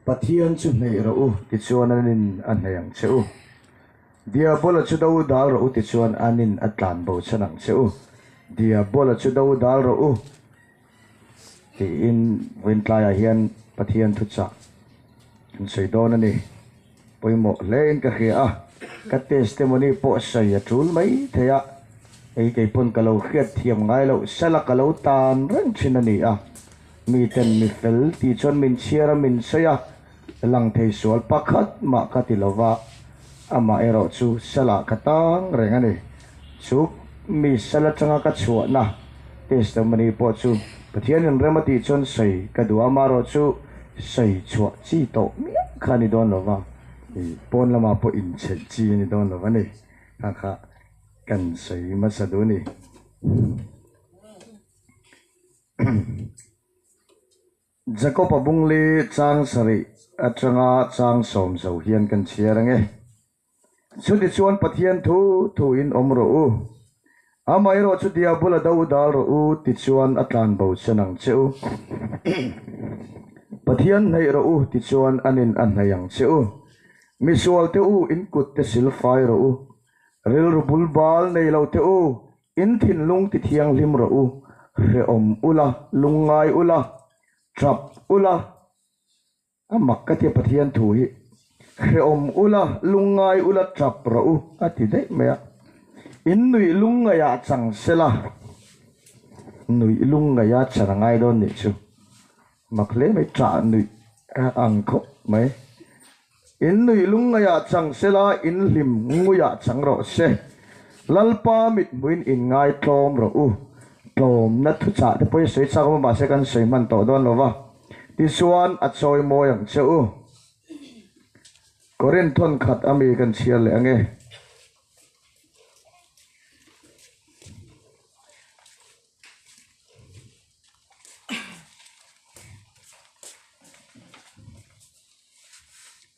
Pathian chu hneih rawh u tichuan an in a hneih ang che u. Diabola chu do dal rawh u tichuan an in a tlan bo chhan ang che u. Diabola chu do dal rawh u tiin vawin tlaiah hian Pathian thuchah an sawi dawn a ni. Pawimawh hle in ka hria a, ka testimony pawh sawi a tul mai thei a, hei kei pawn ka lo hriatthiam ngai loh sal a, ka lo tan reng thin a ni a, mi ten mi fel tih chuan min chhiar a, min sawi a, lang thei sual pakhat mah ka ti lo va, amah erawh chu sal ah ka tang reng a ni. Chu mi sal atanga ka chhuahna testimony pawh chu Pathian in rem a tih chuan sawi ka duh a, mah rawh chu sawi chhuah chi tawh miah kha a ni dawn lo va, ih pawn lamah pawh inchhelh chi a ni dawn lo va ni, kha kha kan sawi hmasa duh a ni. Jacob a bung li chang sarih atanga chang sawm zo hian kan chhiar ang e. Chuni chuan Pathian thu thu in awm rawh u, amaherawh chu Diabul-a do dal rawh u ti chuan a tlanbo chan ang che u. Pathian hnaih rawh u ti chuan an in a hnaih ang che u. Misualte u, in kutte sil fai rawh u, rilru bul bal nei lote u, in thinlung ti thianghlim rawh u, hrehawm u la, lungngai u la, ṭap u la, A mak ka ti Pathian thu hi hrehawm ula lungngai ula tap rawh u a ti daih mai a. In nuih lungngaia chang sela nuih lungngaia chhan a ngai dawn nih chu mak hle mai chah nuih a ang khawp mai. In nuih lungngaia chang sela in hlim nguia chang rawh se. Lalpa mithmuin in ngai tlawm rawh u. Tlawmna thuchah te pawhin sawi chak awm a mahse kan sawi hman tawh dawn lova. Tichuan a chawi mawi ang che u. Corinth thawn khat a mi kan chhiar leh ang e.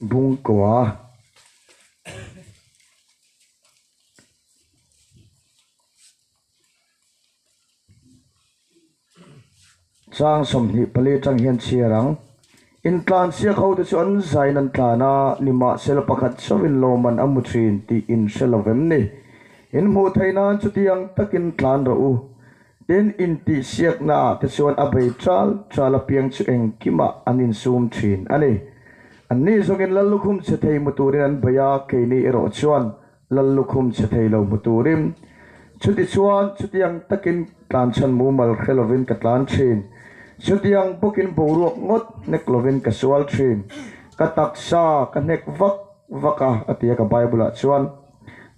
Bungkua. Chang sawmhnih pali atang hian chhiar ang. Intlan sia kho te chu an zain an tlan a, nimahse la pakhat chauhin lawmman a mu thin tih in hre lo em ni? In hmuh theih nan chuti ang takin tlan rawh u. Tin intihsiakna ah te chuan a bei tal tal apiang chu engkimah an insum thin a ni. Anni zawngin la lukhum che thei hmu turin an bei a, keini erawh chuan Lal lukhum chhe thei lo hmu turin chutichuan chutiang takin tlan chhan mumal hre lovin ka tlan thin. Chutiang bawkin boruak ngawt hnek lovin ka sual thin. Ka taksa ka hnek vak vak a, a tia ka Bible ah chuan.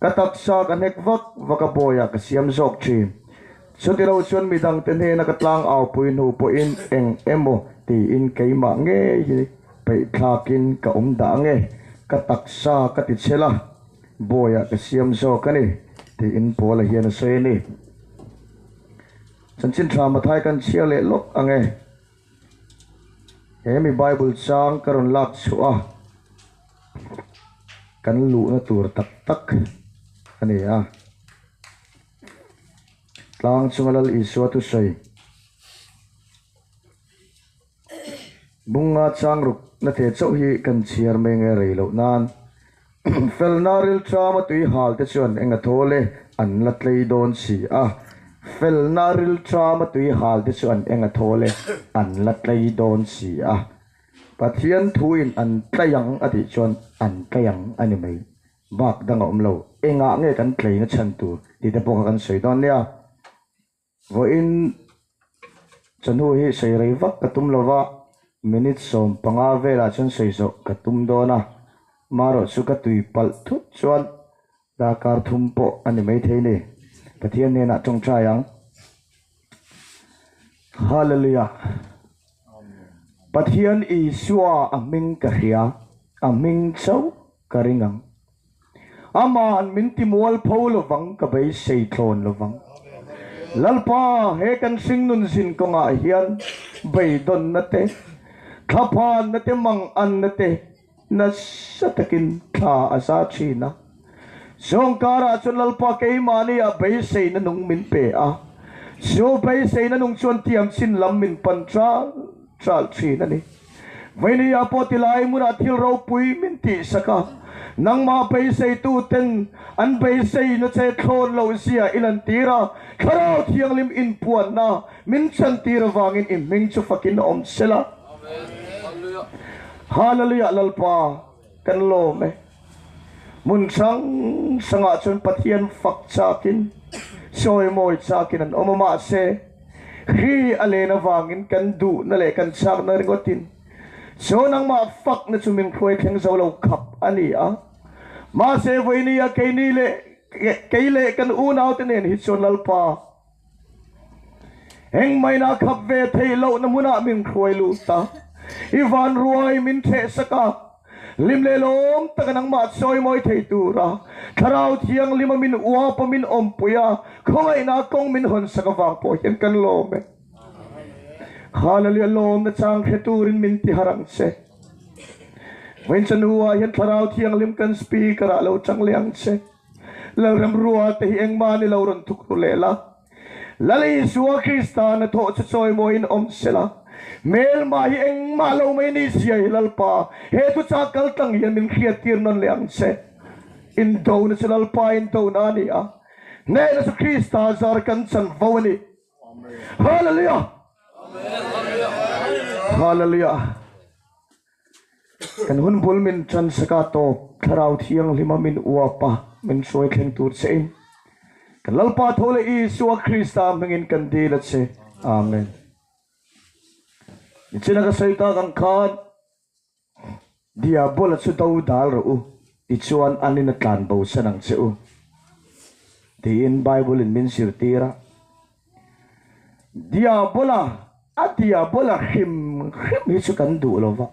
Ka taksa ka hnek vak vak a bawi ah ka siam zawk thin. Chutilo chuan midangte hnena ka tlang aupui hnu pawhin eng emaw tiin keimah ngei hi. Peih thlakin ka awm dah ang e, ka taksa ka ti chhe la, Bawiah ka siam zawk a ni, tiin Paula hian a sawi a ni. Chanchin thla Matthai kan chhiar leh lawk ang e. He mi Bible chang ka rawn lak chhuah a, kan luhna tur tak tak a ni a. Tlang chunga Lal Isua thusawi. Bunga changruk na te chauh hi kan chhiar mai nge rei loh nan felna rilṭama tuihâlte chuan enga thawl e an la tlei dawn si a, felna rilṭama tuihâlte chuan enga thawl e an la tlei dawn si a, Pathian thuin an tlei ang a tih chuan an tlei ang a ni mai, bâk dang a awm lo, engah nge kan tleina chhan tur tite pawh kha kan sawi dawn nia. Vawiin chanu hi sawi rei vak ka tum lova, minute sawm panga velah chuan sawi zawh ka tum dawn a, marawh chu ka tui palh thut chuan darkar thum pawh a ni maithei ni. Pathian hnenah tawngtai ang. Hallelujah! Pathian Isua a hming ka hria, a hming chauh ka ring ang. Amah an min timual pho lovang ka beisei tlawn lovang. Lalpa, he kan hringnun zin kawngah hian beidawnna te, thlaphanna te, manganna te nasa takin thla a za thin a. Zawngkarah chuan Lalpa keimahniah beiseina nung min pe a, chu beiseina nung chuan tiamchin lam min pan chal chal thin a ni. Vaileia pawh tilai hmunah thil ropui min tih sak a, nangmah beiseitu ten an beisei nache thlawn lo zia i lantir a, Thlarau Thianghlim inpuanna min chantir avangin i hming chu fakin a awm sela. Hallelujah Lalpa kan lawm e. Hmun hrang hrangah chuan Pathian fak chakin, sawi mawi chakin an awm a, mahse, Kri a len avangin kan duhna leh kan chakna ringawtin saw nangmah fakna chu min hruai thleng zo lo khap a ni a. Mahse, vawinia keini leh kei leh kan unaute nen hi chuan Lalpa, Eng maina khap ve thei loh na hmuna min hruai luh ta. I van ruai min ṭheh sak a, lim lehlawm taka nangmah chawi mawi thei tura Thlarau Thianglima min uap a, min awmpui a, khawngaihna kawng min hawn sak avang pawh hian kan lawm e. Khahlalia lawmna chang hre turin min ti har ang che. Vawinchanu ah hian Thlarau Thianghlim kan speaker ah lo changliang che. Lal remrual te hi engmah an i lo rawn tuk tu leh la. Lal Isua Krista na thawh chu chawi maw in awm se la, hmelmah hi engmah lo mai ni sia hi Lalpa, he tu chang kal tlang hian min hriattir nawn leh ang che. Indona chu Lalpa indona a ni a, hnehna chu Krista zar kan chan vo a ni. Hallelujah! Hallelujah! Kan hun bul min chan sa ka tawp, Thlarau Thianghlim a min uap a, min hruai thleng tur che in. Kan Lalpa tho leh Isua Krista hming in kan dil a che. Amen. Nichin a ka sawi tak ang khan, Diabol a chu do dal rawh u, ti chuan an in a tlan bo san ang che u, tiin Bible in min zirtir a. Diabola a Diabola hrim hrim hi chu kan duh lo va.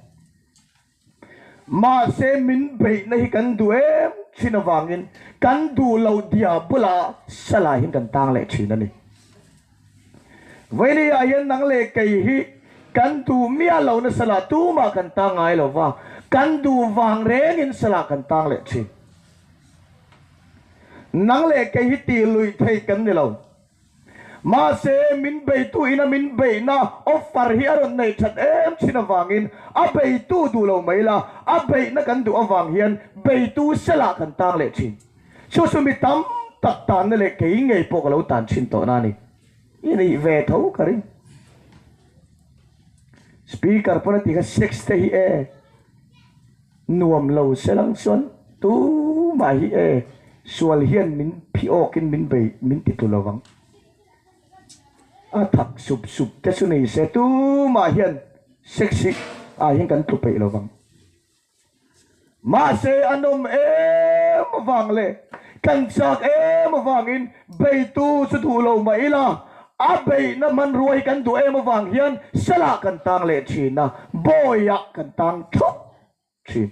Mahse min beihna hi kan duh em thin avangin kan duh lo Diabola salai hian kan tang leh thin a ni. Vawileiah hian nang leh kei hi kan duh miah lohna salah tumah kan tang ngai lo va, kan duh vang rengin salah kan tang leh thin. Nang leh kei hi tih luih thei kan ni lo. Mahse, min beitu ina min beihna offer hi a rawn neih that em chin avangin a beitu duh lo mai la, a beihna kan duh avang hian beitu selah kan tang leh thin. Chu chu mi tam tak tanna leh kei ngei pawh ka lo tan thin tawh na a ni. I nih ve tho ka ring. Speaker pawn a ti kha sex te hi e. Nuam lo se lam chuan tu mah hi e sual hian min phi awk in min bei min ti tu lo vang. A thak sup sup te chu nei se tu mah hian sexy ah hian kan tlu peih lo vang. Mahse a nawm em vang le kan chak em vang in Beitu chu duh lo mah ila, a beihna hmanrua hi kan duh em avang hian selah kan tang leh thin a, bawiah kan tang thawk thin.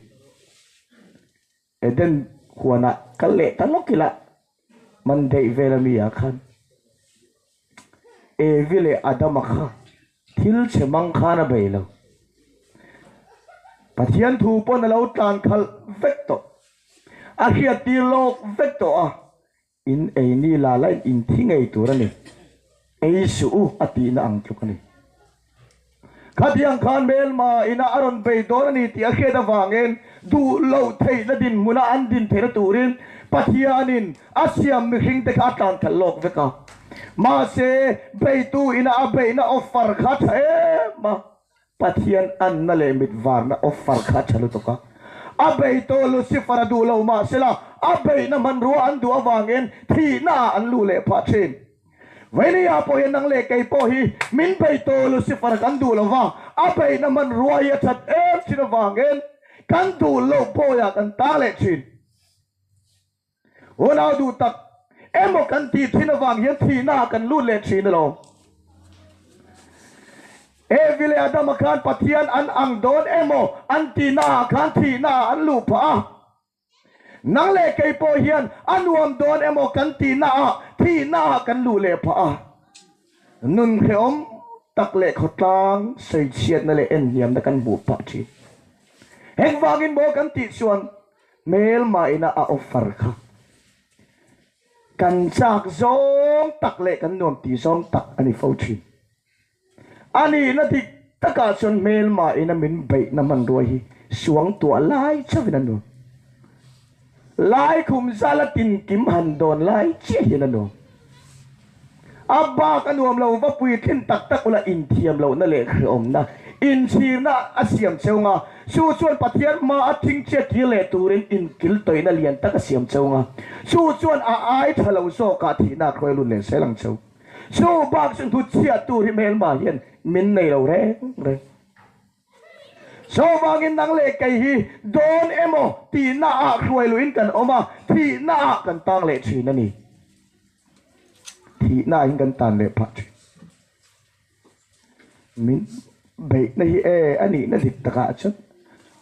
Eden huanah kal leh ta lawk ila, man daih vel a mi ah khan Evi leh Adama kha thil chhe mang khan a bei lo. Pathian thu pawn a lo tlan khalh vek tawh, a hriat tir lawk vek tawh a, In ei ni la laih in thi ngei tur a ni. Ei suh u a tihna ang tluk a ni. Khatiang khan Myanma inah a rawn vei dawn a ni tih a hriat avangin duh loh theihna dinhmunah an din theihna turin Pathianin a siam mihringte kha a tlanthal lawk vek a. Mahse, veitu inah a beihna offer kha tha em a. Pathian anna leh mitvarna offer kha a tha lutuk a. A bei tawh Lucifer a duh lo mah se la, a beihna hmanrua an duh avangin thihna ah an luh leh phah thin. Veineia pawh hian nang leh kei pawh hi min bei tawh Lucifer kan duh lo va, a beihna hmanrua hi a that em thin avangin kan duh loh bawiah kan tang leh thin. Hunau duh tak emaw kan tih thin avang hian thihna ah kan lut leh thin alawm. E vile Adam a khan Pathian an ang dawn emaw an tihna ah khan thihna ah an luh phah a. Nang leh kei pawh hian a nuam dawn emaw kan tihna ah thihna ah kan luh leh phah a. Nun hrehawm tak leh khawtlang sawi chhiatna leh en hniamna kan hmuh phah thin. Heng vangin maw kan tih chuan Hmel mahina a offer kha kan chak zawng tak leh kan nuam ti zawng tak a ni fo thin. A nihna dik takah chuan hmel mahina min beihna hmanruai hi suang tuah lai chauhin a nuam. Lai khum zala tinkim han dawn lai chiahin a nuam. A bak a nuam lo va puithlin tak tak ula inthiam lohna leh hreawmna inchhirna a siam cheu nga. Chu chuan Pathian hmaa thing chiat tir leh turin inkil tawihna lian tak a siam cheu nga. Chu chuan a ai tha lo zawkah thihna a hruai lut leh sel ang cheu. Chu bak chu hnutchhiattu ri hmel hma hian min nei lo reng reng. Chuvangin nang leh kei hi dawn emaw tihnaah hruai luhin kan awm a, thihnaah kan tang leh thin a ni. Thihnahin kan tan leh phah thin. Min beihna hi e a nihna dik takah chuan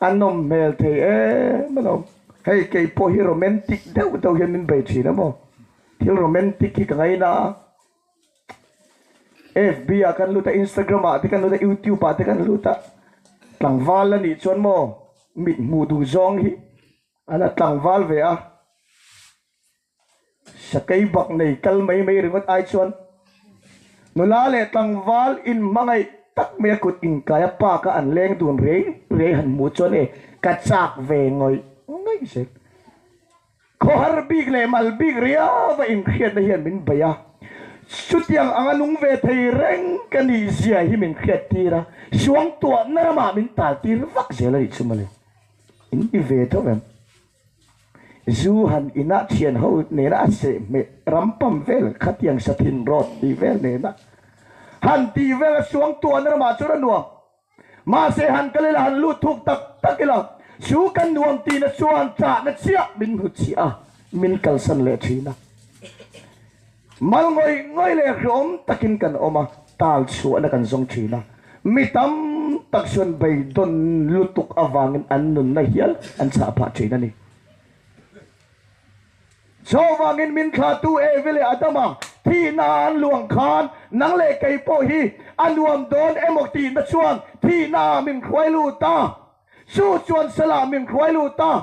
a nawm hmel thei em a lo. Hei kei pawh hi romantic deuh deuh hian min bei thin a maw? Thil romantic hi ka ngaina a, fb ah kan lut a instagram ah te kan lut a youtube ah te kan lut a tlangval la nih chuan maw mit hmuh duh zawng hi ala tlangval ve a sakei bak nei kal mai mai ringawt ai chuan nula leh tlangval in hmangaih tak mai a kut inkai a park a an leng dun rei rei han hmuh chuan e ka chak ve ngawih ngaih zet Khawhar bik leh mal bik riava inhriatna hian min bei a, chutiang anga nung ve thei reng ka ni zia hi min hriat tir a, suangtuahna ramah min tal tir vak zel a nih chu mani. In i ve tho em? Zu han inah thian ho nena a seh hmeh rampam vel khatiang sathin rawt tih vel nena han tih vel a, suangtuahna ramah chuan a nuam. Mahse han kal ila han lut thuk tak tak ila chu kan nuam tihna chuan chahna chiah min hmu chih a, min kalsan leh thin a. Mal ngawih ngawih leh hrawm takin kan awm a, tal chhuahna kan zawng thin a, mi tam tak chuan beidawn lutuk avangin an nunna hial an chah phah thin a ni. Chuvangin min thlahtu Evi leh Adama thihna an luang khan nang leh kei pawh hi a nuam dawn emaw tihna chuan thihna ah min hruai lut a, chu chuan sal ah min hruai lut a,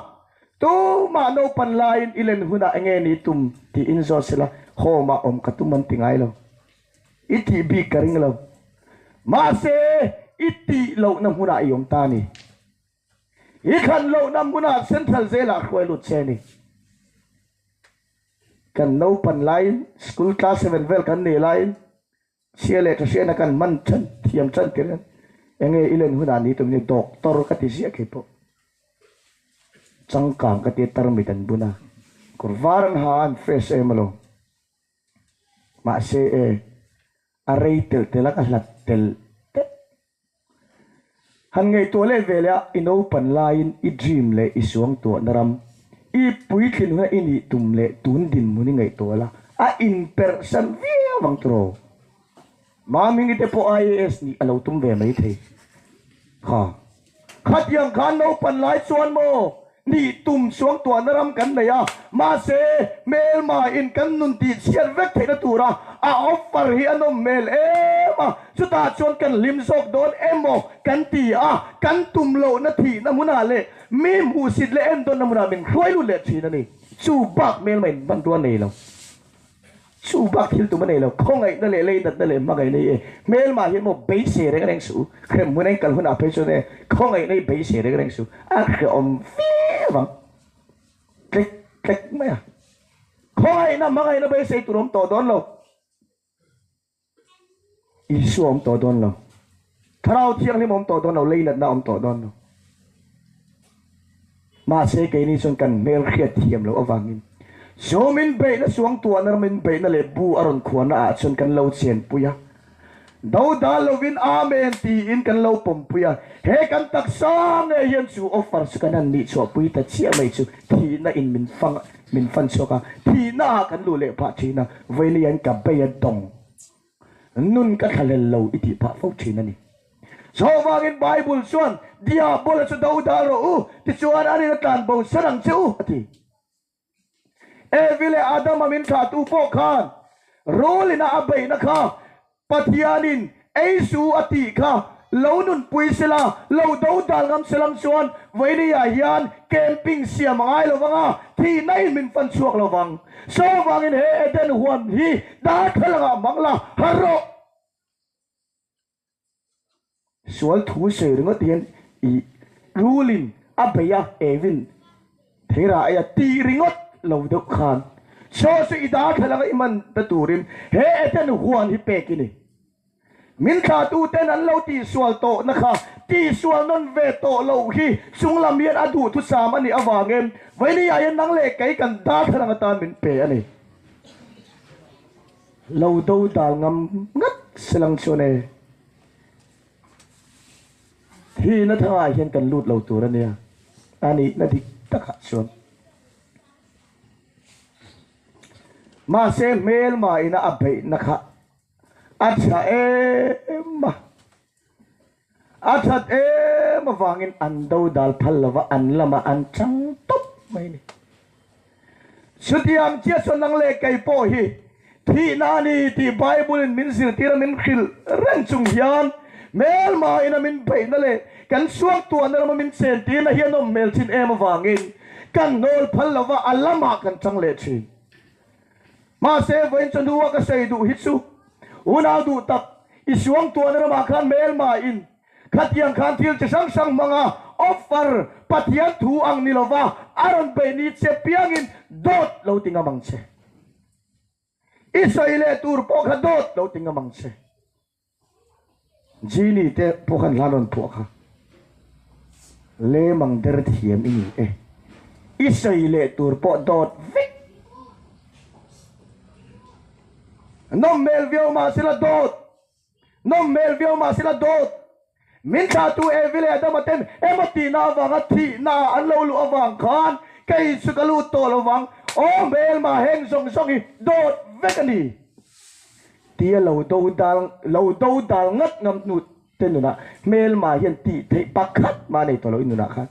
tumah naupan laiin i len hunah enge ni tum tiin zawt sela, hawmah awm ka tum an ti ngai lo, i tih bik ka ring lo, mahse i tih lohna hmunah i awm ta a ni. Hi khan loh nam buna Central Jail ah hruai lut che ani. Kan lo pan lai, school class seven vel kan nei lai, chhia leh thahriana kan man chan thiam chan tir hian eng nge i len hunah ni tum ni? Doctor ka ti ziah khi pawh changkang ka ti tarmit an bun a, kawr var an ha a, an fresh em alo. Mahse e, a rei telh telh a, ka hlat telh telh. Han ngaihtuah let veleh a, i naupan laiin i dream leh i suangtuahna ram, i puitling huna i nih tum leh tun dinhmun i ngaihtuah la, a inperhsan viau ang tur aw. Mamini te pawh IAS nih a lo tum ve mai thei. Kha. Khatiang khan naupan lai chuan maw Ni tum chuang tuahna ram kan nei a, mahse hmelmaiin kan nun tih chhiat vek theihna tura a offer hi a nawm hmel em a, chutah chuan kan hlim zawk dawn emaw kan ti a, kan tum lohna thihna hmunah leh mi hmuhsit leh endawnna hmunah min hruai lut leh thin a ni. Chu bak hmelmaiin hmanrua nei lo. Chu bak thil tum a nei lo. Khawngaihna leh leidatna leh hmangaihna hi e hmel mah hian maw beisei reng reng suh. Hrem hun a inkal hunah phei chuan e khawngaihna hi beisei reng reng suh. A hre awm viau ang. Tlek tlek mai a. Khawngaihna hmangaihna beisei tur awm tawh dawn lo. Isua awm tawh dawn lo, Thlarau Thianghlim awm tawh dawn lo, leilatna awm tawh dawn lo. Mahse keini chuan kan hmel hriat thiam loh avangin zawm inbeihna, suangtuahna ram inbeihna leh bu a rawn khuana ah chuan kan lo chenpui a, do dal lovin Amen tiin kan lo pawmpui a. He kan taksa nge hian chu offer chu kan han nihchhuahpui ta chiah mai chu thihna in min fang Min fan chhuak a, thihna ah kan luh leh pah thin a, vawilei an ka bei a dawng, nun ka thla lel lo i tih pah fo thin a ni. Saw vangin Bible chuan, Diabol-a chu do dar rawh u, tichuan an in a tlan bo ser ang che u, a ti. Evi leh Adam-a min thlahtu pawh khan rulin a a beihna kha Pathianin ei su a tih kha lo nunpui sela, lo do dal ngam selang chuan vawinia hian camping siam a ngai lo vang a, thihna inmin fan chhuak lo vang. Saw vangin he Eden huan hi darthlalang ah hmang la har rawh. Sual thu sawi ringawt hian i rulin a bei a, Evin theirah eia tih ringawt lo deuh khan Chaw chu i darthlalang i man ta turin he Ethan huan hi pek i ni. Min thlatuten an lo tihsual tawhna kha tihsual nawn ve tawh loh hi chung lam hian a duh thusam a nih avangin Vainia hian nang leh kei kan darthlalang atan min pe a ni. Lo do dal ngam ngat selang chuan e. Hi na thangah hian kan lut lo tur ania. A nih na dik takah chuan. Mahse hmel ma ina a beih na kha. A tha em ma. A that em avangin an do dal phal lova an lama an chang top mai ni. Chuti ang chiah chuan nang leh kei pawh hi thihna a ni tih Bible in min zirtira min hrilh reng chung hian hmelmaiin a min beihna leh kan suaktuahna lama min chen tiin a hianawm hmel thin em avangin ka nawl phal lova a lamah kan chang leh thin. Mahse, vawiin chuan hnu a ka sawi duh hi chu unau duh tak i suangtuahna lamah khan hmelmaiin, Khatiang khan thil chi hrang hrang hmanga offer Pathian thu ang ni lova a rawn beih ni che piangin dawt lo ti ngam ang che. I sawi leh tur pawh kha dawt lo ti ngam ang che. Genie te pawh khan hlan rawn phuah kha lem ang der thiam i ni e. I sawi leh tur pawh dawt vek nawm hmel viau mahsela dawt nawm hmel viau mah sela dawt min thlatu Evi leh Adama ten emaw tihna avanga thihna an lo luh avang khan kei chu ka lut tawh lo vang, aw hmel mah heng zawng zawng hi dawt vek a ni tia lo do dal lo do dal ngat ngam hnu te nunah hmel mah hian tih theih pakhat mah nei tawh lo i nunah khan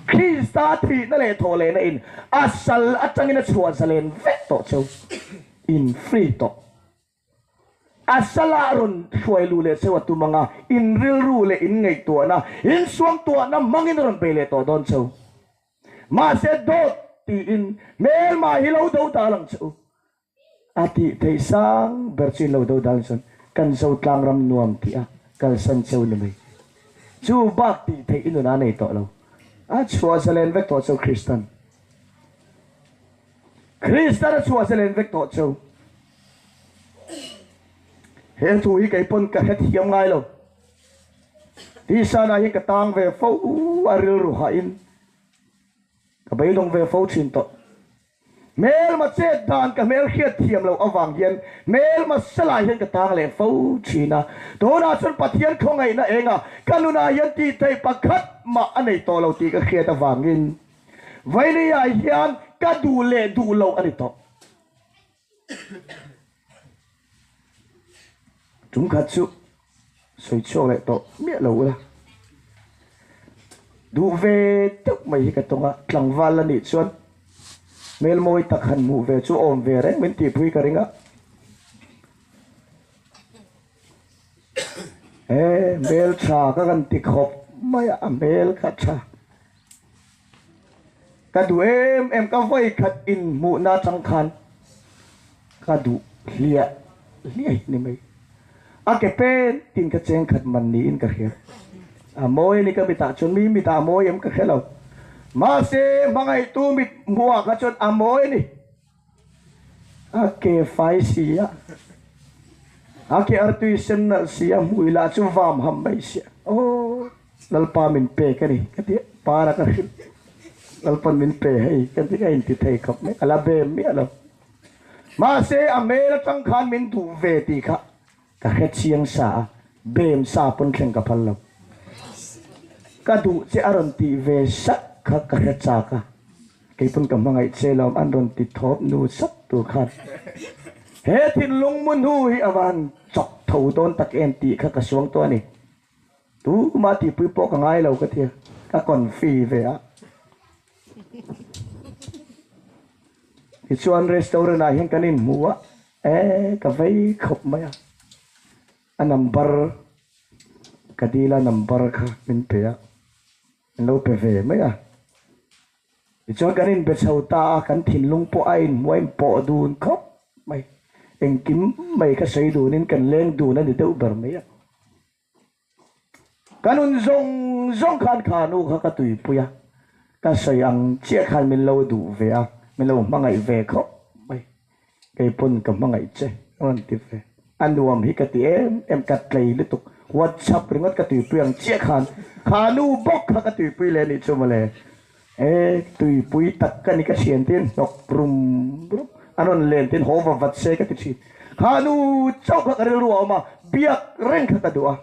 Krista thihna leh thawhlehna in a sal atangin a chhuah zalen vek tawh cheu in free tawh. A salah rawn hruai luh leh cheu a tum anga in rilru leh in ngaihtuahna, in suamtuahna hmangin a rawn pe leh tawh dawn cheu. Mahse dawt tiin hmel mah hi lo do dal ang cheu a tih theih sang ber chu in lo do dalin chuan kan zo tlangram nuam tih a kalsan cheu ni mai. Chu bak tih theih i nun a nei tawh lo. A chhuah zalen vek tawh cheu Kristan. Kristana chhuah che len vek tawh chu he thu hi kei pawn ka hrethiam ngai lo. Tisanah hian ka tang ve fo a rilru hahin ka beidawng ve fo thin tawh. Hmelmachet dan ka hmel hriatthiam loh avang hian hmelmase lai hian ka tang leh fo thin a. Tunah chuan Pathian khawngaihna enga ka nunah hian tihtheih pakhat mah a nei tawh lo tih ka hriat avangin, Vailia hian ka duh leh duh loh a ni tawh. Tum khat chu sawi chhuak leh tawh miah lo ula. Duh ve deuh mai hi ka tawng a, tlangval la nih chuan hmel mawi tak han hmuh ve chu awm ve reng min tihpui ka ring a. He hmel tha ka kan ti khawp mai a, hmel kha tha. Ka duh em em ka vawi khat in hmuh na chang khan ka duh hliah hliah ni mai. A ke pen tin ka cheng khat man niin ka hriat. A mawi a ni ka mit ah chuan mi mit ah mawi em ka hre lo. Mahse hmangaih tu mit hmuh ah kha chuan a mawi a ni. A ke fai si a, a ke artui sennalh si a hmuh ila chu vam ham mai si a. Aww, Lalpa min pe ka ni ka ti a, para ka hrilh. Lalpa min pe hei ka ti a inti thei khawp mai, ala be miah lo. Mahse a hmel atang khan min duh ve tih kha. Ka hrechiang sa a, bem sa pawn thleng ka phal lo. Ka duh che a rawn tih ve sak kha ka hre chak a, kei pawn ka hmangaih che lo an rawn ti thawp nu sat tur khan he thinlung mu hnu hi a van chawk tho dawn tak em tih kha ka suang tawh a ni. Tumah tihpui pawh ka ngai lo ka tia, ka kawn fi ve a. Hi chuan restaurant ah hian kan in hmu a eh ka vei khawp mai a a number ka deal a number kha min pe a min lo pe ve mai a hi chuan kan in be chho ta a kan thinlung pawh a in hmu a in pawh dun khawp mai engkim mai ka sawi dunin kan leng dun a ni deuh ber mai a Ka nun zawng zawng khan kha a nu kha ka tuipui a, ka sawi ang chiah khan min lo duh ve a, min lo hmangaih ve khawp mai. Kei pawn ka hmangaih che a rawn ti ve. A nuam hi ka ti em em, ka tlei lutuk. WhatsApp ringawt ka tuipui ang chiah khan kha a nu bawk kha ka tuipui leh a nih chu mawle. He tuipui tak ka ni ka thian tiin hnawk rum rum a rawn len tiin haw va vat se ka ti thin. Kha nu chauh kha ka rilru a awm a, biak reng kha ka duh a.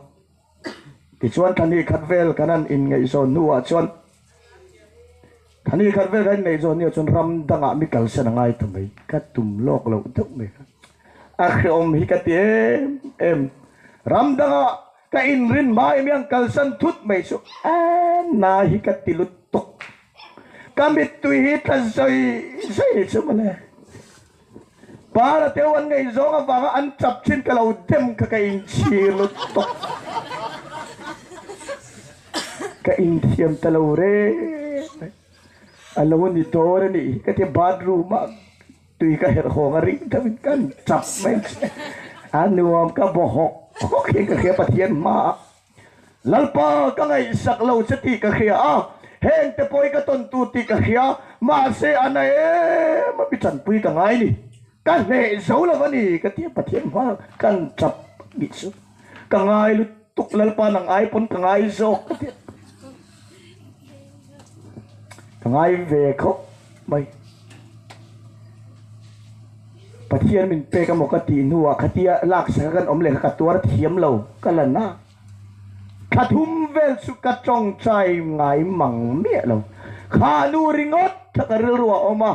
Tichuan thahnih khat vel kan han inngaihzawn hnuah chuan thahnih khat vel kan inngaihzawn hnuah chuan ram dangah mi kalsan a ngai ta mai. Ka tum lawk loh deuh mai kha. A hreawm hi ka ti em em. Ram dangah. Ka inrin hmai miang kalsan thut mai chu emm na hi ka ti lut tawk. Ka mittui hi tla zoi zoi ni chu mawle. Para teu an ngaih zawng avanga an chap chin ka lo dem kha ka inchhir lut tawk. Ka inthiam ta lo reng mai. A lo ni dawr a nih hi ka ti bathroom ah. Tui ka herh khawm a ring deuh in ka ri chap mai a nuam ka baw hawk hawk in ka hria Pathian hmaah Lalpa ka ngaihsak lo che tih ka hria a heng te pawh i ka tawn tur tih ka hria mahse a na em a mi chanpui ka ngai ni ka hneh zo lo a ni ka ti a Pathian hma kan chap bik chu ka ngai lutuk Lalpa nang ai pawn ka ngai zawk ka ti a. Ka ngai ve khawp mai. Pathian min pek a maw ka tih hnuah khatia laksa ka kan awm leh kha ka tuar thiam lo ka la na. Tha thum vel chu ka tawngtai ngai mang miah lo. Kha nu ringawt kha ka rilru a awm a.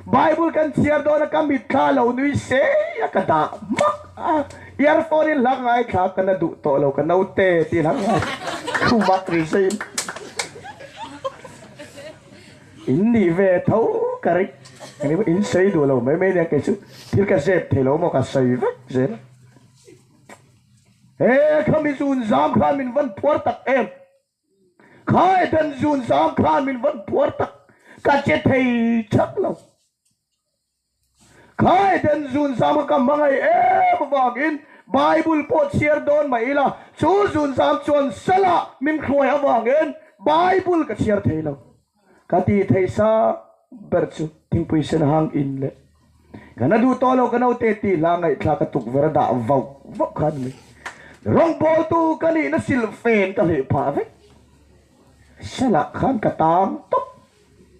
Bible kan chhiar dawna ka mitthla lo nui sei a ka dah mak a, earphone in hlak ngai thla ka na duh tawh lo ka note ti hlak ngai thu mak ri zai in in nih ve tho ka ring ka nih in sawi duh lo mai mai nia kei chu thil ka zep thei lo maw ka sawi vek zel a he kha mizun zam khan min van phuar tak em. Khai dan zun zam khan min van puar tak ka che thei chak lo. Khai dan zun zam kha ka hmangaih em avang in Bible pawh chhiar dawn mah ila chu zun zam chuan Sala min hruai avang in Bible ka chhiar thei lo. Ka ti thei sa ber chu thingpui sen hang in le ka na duh tawh lo ka note ti hla ngaihthla ka tukverh a dah vauh vauh khan mai rawngpawl tu ka nih na silh fen ka hleh phah vek sala khan ka tang tawp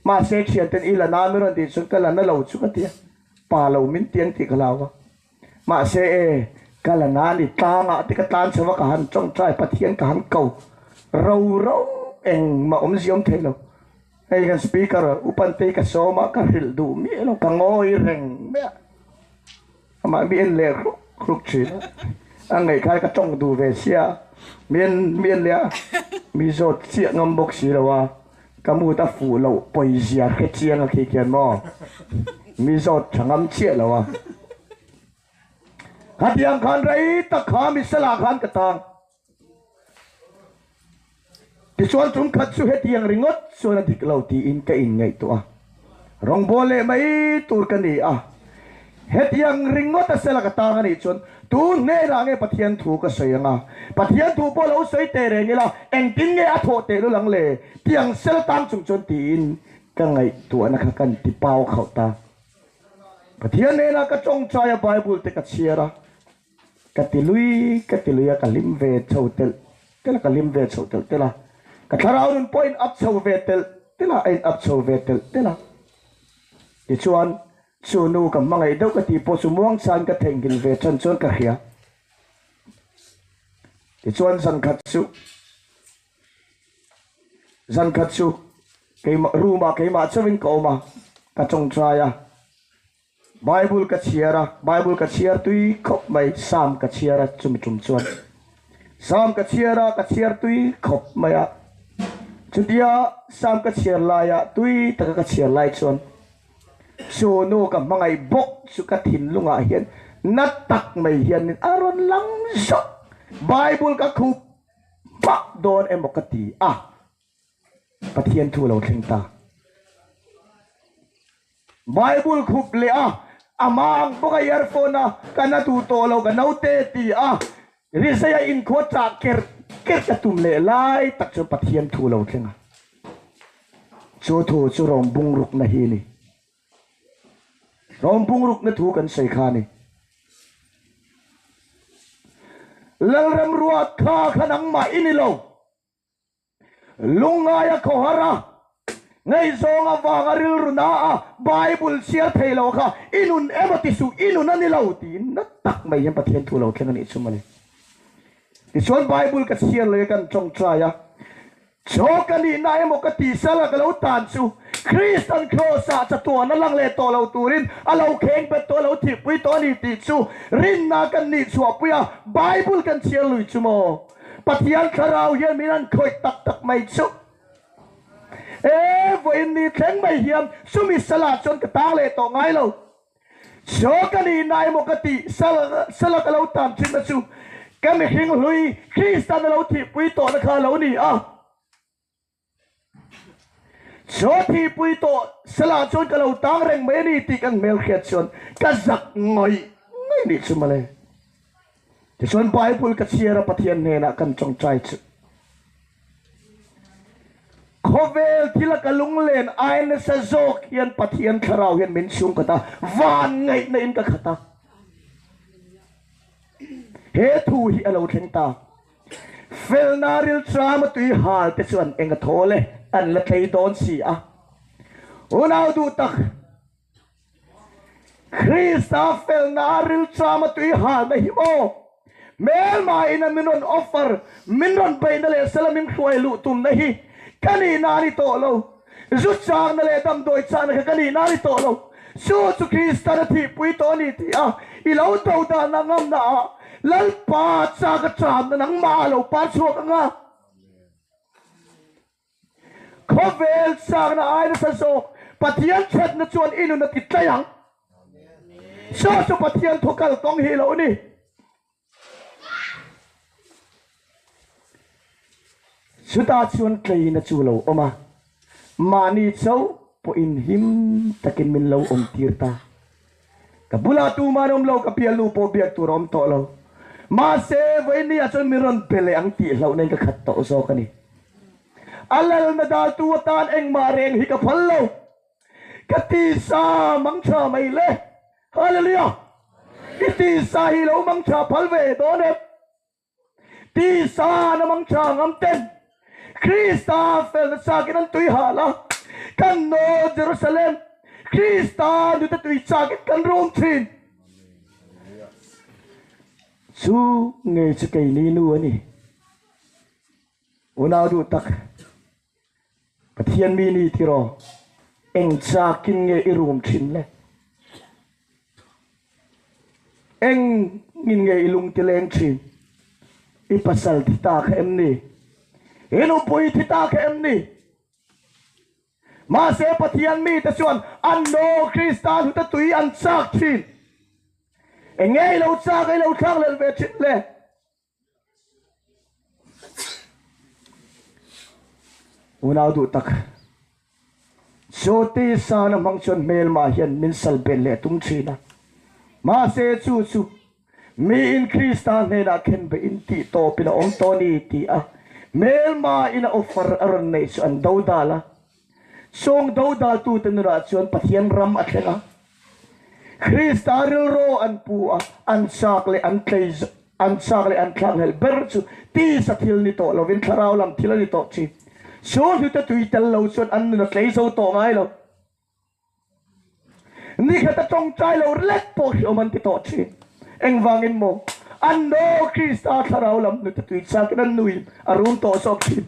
mahse thianten i la na min ron tih chuan ka la na lo chu ka ti a pa lo min tiang tih ka hlau a Mahse, ka la na a ni, tlangah te ka tlan chho va, ka han tawngtai, Pathian ka han ko roro engmah awm ziawm thei lo. Hei hian Speaker Upantei ka sawm a, ka hrilh duh miah lo, ka ngawi reng miah. Amah mi en leh hruk hruk thin a, a ngaih khan ka tawng duh ve sia, mi en mi en leh a, mi zawt chiah ngam bawk si lo a, Ka mut a fuh loh pawizia hre chiang a khi khian maw? Mi zawt tha ngam chiah lo a. Khatiang khan rei tak kha mi salah khan ka tang. Tichuan chum khat chu hetiang ringawt chuan a dik lo tiin ka inngaihtuah a. Rawngbawl leh mai tur ka ni a, hetiang ringawta sela ka tang a nih chuan tu hnenah nge Pathian thu ka sawi anga, Pathian thu pawh lo sawi teh reng ila engtin nge a thawh teh lu lang le tiang sel tang chung chuan tiin ka ngaihtuahna kha ka inti pau khauh ta. Pathian hnenah ka tawngtai a Bible te ka chhiar a. Ka ti lui ka ti lui a, ka hlim ve chho telh telh a, ka hlim ve chho telh telh a, ka thlarau nun pawh a inap chho ve telh telh a, a inap chho ve telh telh a. Tichuan, chu nu ka hmangaih deuh ka tih pawh chu muangchan ka thenghin ve chhan chuan ka hria. Tichuan zan khat chu, zan khat chu keimah room-ah keimah chauhin ka awm a, ka chawngchai a, Bible ka chhiar a, Bible ka chhiar tui khawp mai, Psalm ka chhiar a, chumi tum chuan Psalm ka chhiar a, ka chhiar tui khawp mai a. Chutia Psalm ka chhiar laia tui taka ka chhiar lai chuan Sonu ka hmangaih bawk chu ka thinlungah hian na tak mai hianin a rawn lang zawk, Bible ka khup hmah dawn emaw ka ti a. Pathian thu lo thleng ta. Bible khup leh a, a mang bawk a earphone a ka na duh tawh lo ka naute ti a rizei a inkhuat chah ker ker ka tum leh lai tak chuan Pathian thu lo thleng a. Chu thu chu rawng bungruk na hi ni. Rawng bungruk na thu kan sawi kha ni. Lalrem ruat kha kha nangmah i ni lo. Lungngaia khawhara ngaihzawng avanga rilru na a Bible chhiar thei lo kha i nun em a tisuh i nun a ni lo tiin na tak mai hian Pathian thu lo thleng a nih chu mani. Tichuan Bible ka chhiar leh a kan tawng try a, chaw ka nihna emaw ka tihsal a ka lo tan chu Krist an Kraws ah chatuah na lang leh tawh lo turin a lo kheng bet tawh a lo thihpui tawh a ni tih chu rinna kan nih chhuahpui a, Bible kan chhiar lui chu maw? Pathian thlarau hian min han khawih tak tak mai chuh e, vawiin ni thleng mai hian sumi sala chuan ka tang leh tawh ngai lo. Chaw ka nih na emaw ka ti sala ka lo tan thin na chu ka mihring hlui Kristan a lo thihpui tawhna kha a lo ni a. Chawpi pui tawh Sela chuan ka lo tang reng mai a ni tih kan hmelhriat chuan ka zak ngawih ngawih nih chu male. Tichuan Bible ka chhiar a Pathian hnenah kan tawngtai chu. Khawvel thil a ka lunglen ai nasa zawk hian Pathian thlarau hian min chhungkhat a, van ngaihna in ka khat a. He thu hi a lo thleng ta. Felna rilcham a tui hal te chu an enga thaw le an la thlei dawn si a. Unau duh tak, Krista felna rilcham a tui hal na hi maw hmelmaiin a min rawn offer, min rawn beihna leh sela min hruai luh tumna hi ka nihna a ni tawh lo. Zutchakna leh damdawi chakna kha ka nih na a ni tawh lo. Jew chu Kristan a thihpui tawh a ni tih a i lo do dan a ngamna ah Lalpa chak atang na nangmah a lo par chhuak ang a. Khawvel chakna ai nasa zawk Pathian thatna chuan i nun a ti tlaih ang. Jew chu Pathian thawkal kawng hi a lo ni. Chutah chuan tleina chu lo awm a, mahni cho pawh inhim takin min lo awm tir ta. Ka bulah tuma an awm lo ka bialnu pawh biak tur a awm tawh lo. Mahse, vawinia chuan min rawn be leh ang tih hlauh na in ka khat tawh zawk a ni. A lalna daltu atan engmah reng hi ka phal lo. Ka tisa mangtha mai le. Hallelujah! I tisa hi lo mangtha phal ve dawn em? Tisa na mangtha ngam ten Krista fel nachak in an tui hal a. Kan nawl Jerusalem Krista nute tui chak in kan rum thin. Chu ngei chu kei ni nu a ni. Unau duh tak. Pathian mi ni tir aw, eng chakin nge i rum thin le? Engin nge i lungtileng thin? I pasal thi ta kha em ni? I nupui thi ta kha em ni? Mahse Pathian mi te chuan an nawl Krista hnuta tui an chak thin. Enge i lo chak, i lo thlak lel ve thin le? Unau duh tak. Jyoti sana hmang chuan hmel mah hian min sal belh leh tum thin a. Mahse chu chu miin Krista hnenah khen be in tih tawpin a awm tawh a ni tih a hmel mah in a offer a rawn neih chu an do dal a. Sawngdo daltute nunah chuan Pathian ram a thleng a, Krista rilru an pu a, an chak leh an tlei zawh, an chak leh an thlak hngalh ber chu tisa thil ni tawh lovin thlarau lam thil a ni tawh thin, Sulhute tui tel lo chuan an nun a tlei zo tawh ngai lo. Nikhata tawngtai lo rilek pawh hi awm an ti tawh thin. Engvangin maw? An naw Krista thlarau lam hnute tui chakin an nui a run tawh zawk thin.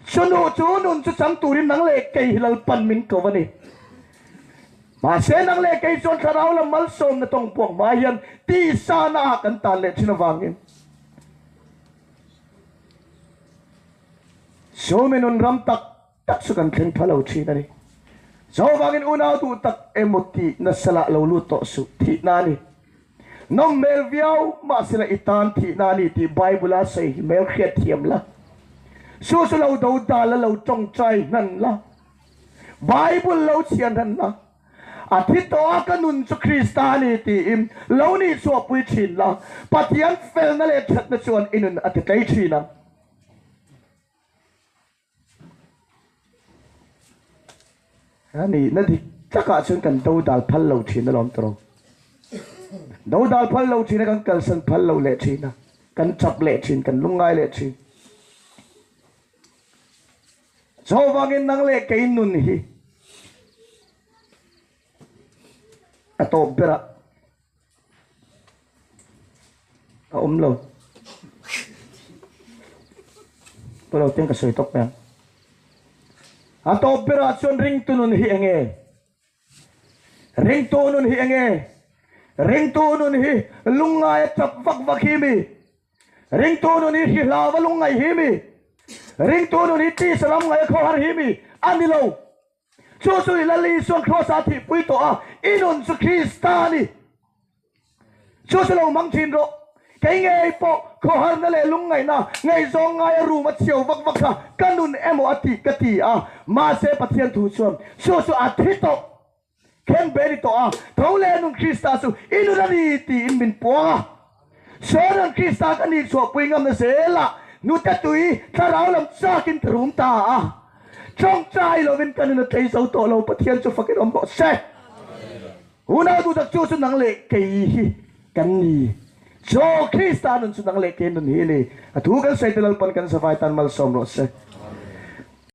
Chu nu chu nun chu chang turin nang leh kei hi lalpan min ko a ni. Mahse nang leh kei chuan thlarau lam malsawmna tawng buak hma hian tihsana ah kan tan leh thin avangin Suomi nun ram tak tak chu kan thleng pha lo thin a ni. Jehovah angin unau duh tak emaw tih na salah lo lut tawh suh, thihna a ni. Nawm hmel viau, mahsela i tan thihna a ni tih Bible a sawi hi hmel hriatthiam la. Chu chu lo do dal la, lo tawngtai hnan la. Bible lo chhiah hnan la. A thi tawh a, ka nun chu Krista a ni tiin lo ni chhuahpui thin la. Pathian felna leh thatna chuan i nun a ti tlei thin ang. Ka nih na dik takah chuan kan do dal phal lo thin alawm ta rawh. Do dal phal lo thin a kan kalsan phal lo leh thin a, kan chap leh thin, kan lung ngai leh thin. Chu vangin nang leh kei nun hi a tawp berah. a awm lo pawh lo ten ka sawi tawk mai ang a tawp berah chuan ringtu nun hi enge ringtu nun hi enge ringtu nun hi lungngai a chap vak vak hi mi ringtu nun hi hri hlau a lungngai hi mi ringtu nun hi ti salam ngai a khaw har hi mi a ni lo Chu chu ila Li chuan Kraws a thihpui tawh a, i nun chu Krista a ni. Chu chu lo mang thin rawh, kei ngei pawh khawharna leh lungngaihna ngaihzawng ngaia rum a chio vak vak kha ka nun emaw a tih ka ti a, mahse Pathian thu chuan chu chu a thi tawh. Kheng ve ni tawh a, tho leh nun Krista chu i nun a ni tiin min puang a. Sawinan Krista ka nih chhuahpui ngam na zel ah hnute tui thlarau lam chak in ka rum ta a. Chawng chai lo in ka nun a tlei zo tawh lo, Pathian chu fakin awm rawh se. Unau duhtak chu chu nang leh kei hi kan ni. Chaw, Krista nun chu nang leh kei nun hi a ni. A thu kan sawi tel lalpan kan savai tan malsawm rawh se.